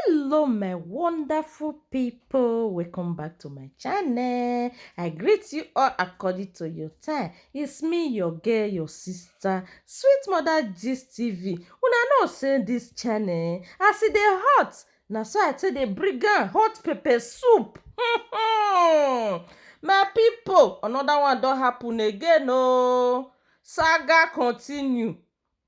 hello my wonderful people welcome back to my channel i greet you all according to your time it's me your girl your sister sweet mother gist tv una know say this channel as e dey hot na so i take dey bring am hot pepper soup my people another one don happen again oh saga continue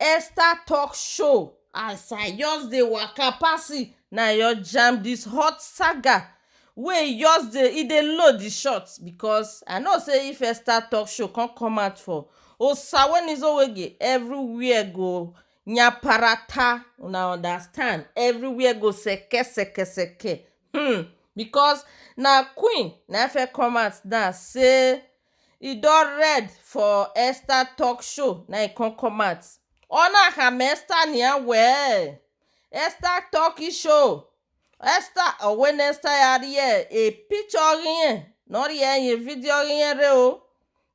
Esther talk show as I just dey waka pass e na I just jam this hot saga wey e just dey e dey load the shot because I know say if Esther talk show come come out for Osawonizowoge everywhere go nyaparata una understand everywhere go seke seke seke hmm because na queen na first come out now say e don red for Esther talk show na e come come out ona ha me Esther nia we Esther talk show Esther owen Esther ya rie e picture rien no rie ye video rien re o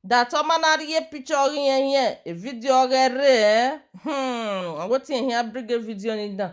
da to ma na rie picture rien rien e video re re eh hmm wetin e hia bring e video ni da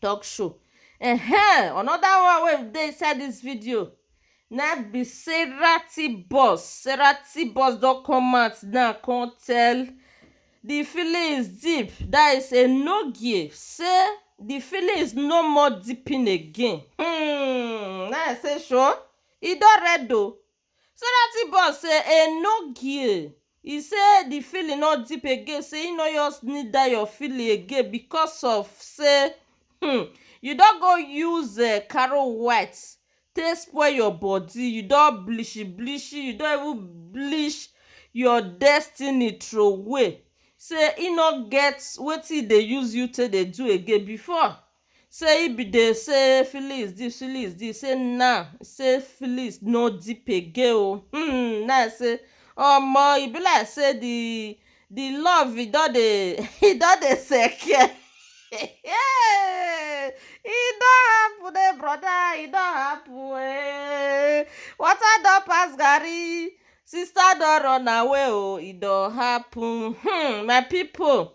talk show um another one wey dey inside this video na im be Sarah T Boss, Sarah T Boss don come out now come tell the feelings deep that is a no give say the feelings no more deeping again um na im say sure e don red o Sarati boss say e no gee, e say di feeling no deep again say e no just need dat your feeling again because of say um you don go use um caro white take spoil your body, you don bleachi bleachi, you don even bleach your destiny throway, say e no get wetin e dey use you take dey do again before. Say he be dey say feelings deep feelings deep say now say feelings no deep again o hmm now say omo e be like say the the love e don dey e don dey seke hey e don happen eh brother e don happen eh water don pass garri sister don run away o e don happen hmm my people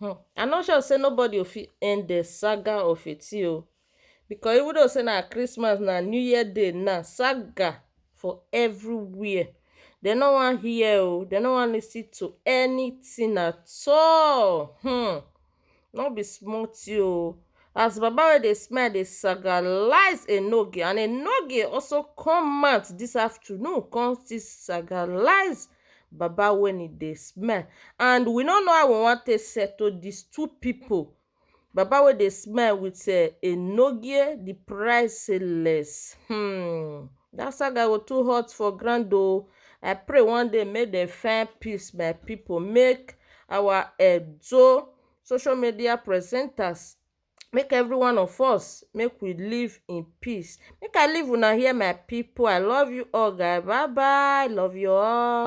Hmn I no sure say nobody o fit end the saga of Eti o because even though say na Christmas na New Year day na saga for everywhere they no wan hear o they no wan listen to anything at all hmn no be small thing o as baba wey dey smile dey sagalize Enoge and Enoge also come out this afternoon come still sagalize baba when e dey smell and we no know how we wan take settle these two people. Baba wey dey smell with uh, enogie the priceless. Hmm. That saga go too hot for ground o. I pray one day make dem find peace, my people. Make our Edo social media presenters make every one of us make we live in peace make i leave una here my people i love you all guy bye bye love you all